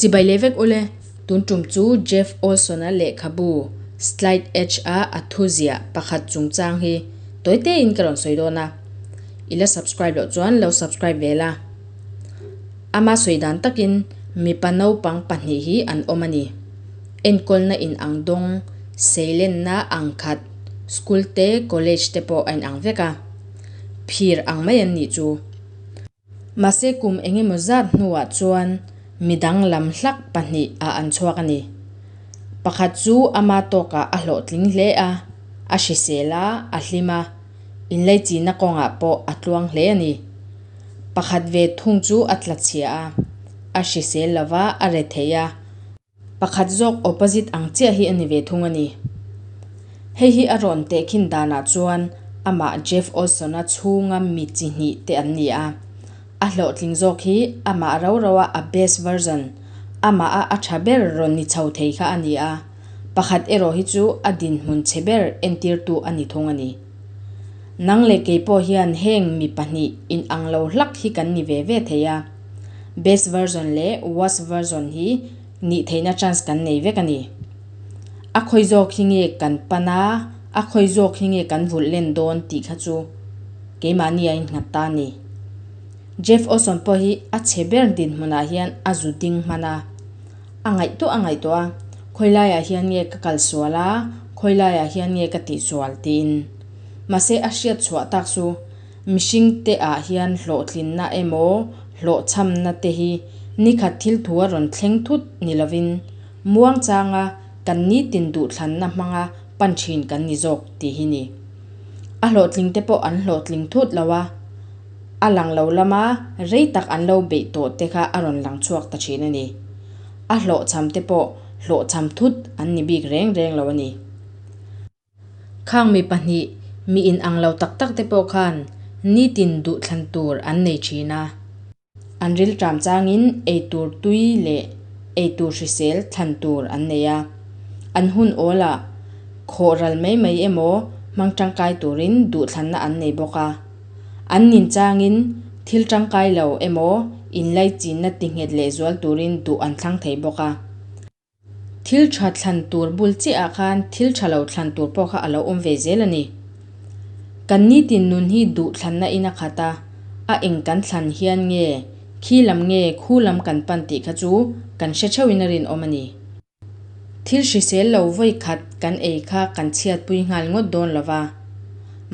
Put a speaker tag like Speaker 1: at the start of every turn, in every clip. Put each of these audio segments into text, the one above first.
Speaker 1: Chibai leh vek ule, tun tum chu Jeff Olson-a lehkhabu Slide Edge-a a thu ziah pakhat chungchang hi tawi te in ka rawn sawi dawn a, i la subscribe loh chuan lo subscribe ve la. Ama sawi dan takin mipa naupang pahnih hi an awm a ni, enkawlna in ang dawng, seilenna ang khat, school te college te pawh a in ang vek a. phir ang mai an nih chu. Mahse kum eng emaw zat hnuah chuan mi danglam hlak pahnih a an chhuak a ni. Pakhat chu ama tawkah a hlawhtling hle a, a hrisel a, a hlim a, inleichina kawngah pawh a tluang hle a ni. Pakhat ve thung chu a tla chhia a, a hrisel lova a re theih a. Pakhat zawk opposite ang chiah hi a ni ve thung a ni. Hei hi a rawn teh khin danah chuan amah Jeff Olson-a chhunga mi chi hnih te an ni a. A hlawhtling zawk hi amah rau rauha a best version, amaha a tha ber rawn ni chho thei kha a ni a. Pakhat erawh hi chu a dinhmun che ber entirtu a ni thung a ni. Nang leh kei pawh hian heng mi pahnih inang lo hlak hi kan ni ve ve thei a. best version leh worst version hi nih theihna chance kan nei vek a ni. A khawi zawk hi nge kan pan a, a khawi zawk hi nge kan vulh len dawn tih kha chu keimahni a innghat ta a ni. Jeff Olson pawh hi a chhe ber dinhmunah hian a zu ding hman a, a ngaih tawh a ngaih tawh a, khawi laiah hian nge ka kal sual a, khawi laiah hian nge ka tihsual tiin. Mahse a hriatchhuah tak chu Mihringte ah hian hlawhtlinna emaw hlawhchhamna te hi nikhat thilthu a rawn thleng thut ni lovin, Muangchanga kan nitin duhthlanna hmanga pan thin kan ni zawk ti hi ni. A hlawhtlingte pawh an hlawhtling thut lo a, a lang lo lama rei tak an lo beih tawh te kha a rawn lang chhuak ta thin a ni. A hlawhchhamte pawh hlawhchham thut an ni bik reng reng lo a ni. Khang mi pahnih mi in ang lo tak tak te pawh khan nitin duh thlan tur an nei thin a, an rilṭam chang in ei tur tui leh ei tur hrisel thlan tur an nei a, an hun awl ah khawh ral mai mai emaw hmang ṭangkai tur in duh thlanna an nei bawk a, an nin chang in thil ṭangkai lo emaw in laichînna ti nghet leh zual tur in duh an thlang thei bawk a. Thil tha thlan tur bul chiahah khan thil tha lo thlan tur pawh kha a lo awm ve zel a ni. Kan nitin nun hi duh thlanna ina khat a, a eng kan thlan hian nge khi lam nge khu lam kan pan tih kha chu kan hre theuhin a rinawm a ni. Thil hrisel lo vawi khat kan ei kha kan chhiatpui nghal ngawt dawn lo va.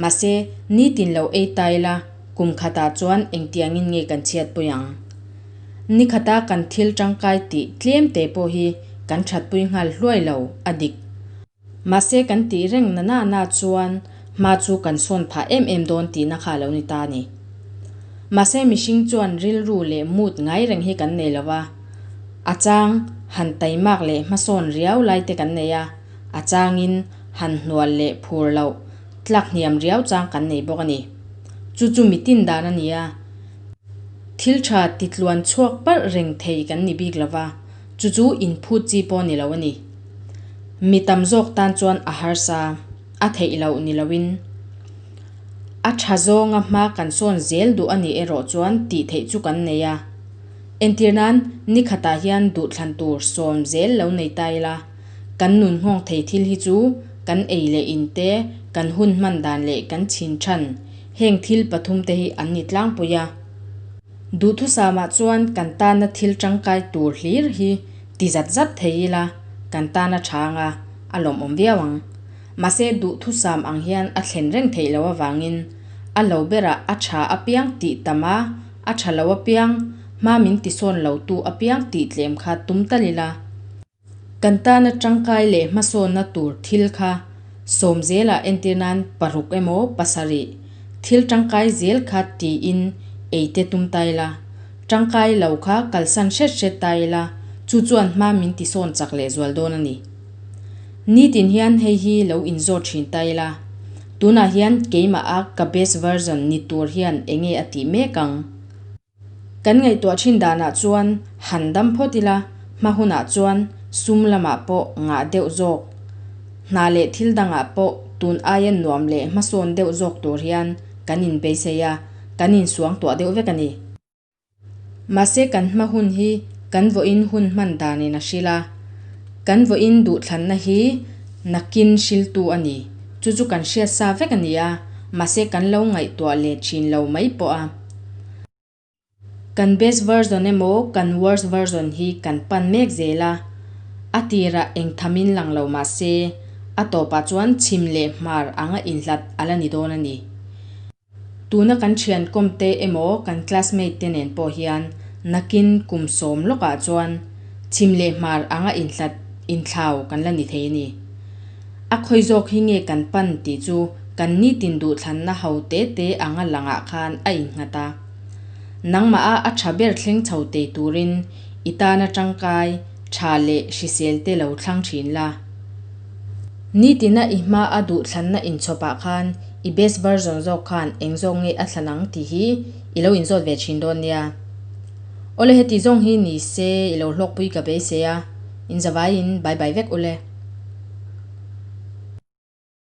Speaker 1: Mahse, nitin lo ei ta ila kum khatah chuan engtiangin nge kan chhiatpui ang? Nikhata kan thil tangkai tih tlem te pawh hi kan thatpui nghal hluai lo a dik. Mahse kan tih reng nana na chuan hma chu kan sawn phah em em dawn tihna kha a lo ni ta a ni. Mahse mihring chuan rilru leh mood ngai reng hi kan nei lova, a chang han taimak leh hmasawn riau lai te kan nei a, a changin han hnual leh phur loh tlak hniam riau chang kan nei bawk a ni. Chu chu mi tin dan a ni a. Thil tha titluan chhuak parh reng thei kan ni bik lova, chu chu inphut chi pawh ni lo a ni. Mi tam zawk tan chuan a harsa a theih loh ni loin, a tha zawnga hma kan sawn zel duh a ni erawh chuan tih theih chu kan nei a. Entir nan, ni khatah hian duhthlan tur sawm zel lo nei ta ila, kan nun nghawng thei thil hi chu kan ei leh in te, kan hun hman dan leh kan chhin than, Heng thil pathum te hi an ni tlangpui a. Duhthusama chuan kan tana thil tangkai tur hlir hi ti zat zat thei ila kan tana tha anga a lawmawm viau ang. Mahse duhthusam ang hian a thlen reng theih lo avangin a lo berah a tha apiang tih tam a, a tha lo apiang, hma min tisawn lo tu apiang tih tlem kha tum tal ila. Kan tana tangkai leh hmasawnna tur thil kha sawm zela entir nan paruk emaw pasarih thil tangkai zel kha tiin eite tum ta ila, tangkai lo kha kalsan hret hret ta ila chu chuan hma min tisawn chak leh zual dawn a ni. Nitin hian hei hi lo inzawt thin ta ila, tunah hian keimaha ka best version ni tur hian enge a tih mek ang? Kan ngaihtuah thin danah chuan han dam phawt ila, hma hunah chuan sum lamah pawh ngah deuh zawk, hna leh thil dangah pawh tun aia nuam leh hmasawn deuh zawk tur hian kan inbeisei a, kan insuang tuah deuh vek a ni. Mahse kan hma hun hi kan vawiin hun hman danin a hrilh a, kan vawiin duhthlanna hi nakin hriltu a ni. Chu chu kan hriatsa vek a ni a, mahse kan lo ngaihtuah leh thin lo mai pawh a. Kan best version emaw kan worst version hi kan pan mek zel a, a tirah eng tham in lang lo mahse a tawpah chuan chhim leh hmar anga inhlat a la ni dawn a ni. Tuna kan thiankawm te emaw kan classmate te nen pawh hian nakin kum sawm lawkah chuan chhim leh hmar anga inhlat inthlau kan la ni thei a ni. A khawi zawk hi nge kan pan tih chu kan nitin duhthlanna ho te te anga langah khan a innghat a. Nangmaha a tha ber thleng chho teh turin i tana tangkai, tha leh hrisel te lo thlang thin la. Nitina i hma a duhthlanna inchhawpah khan i best version zawk khan eng zawk nge a thlan ang tih hi i lo inzawt ve thin dawn nia. Awle heti zawng hi ni se i lo hlawkpui ka beisei a. Inzavaiin bye bye vek ule.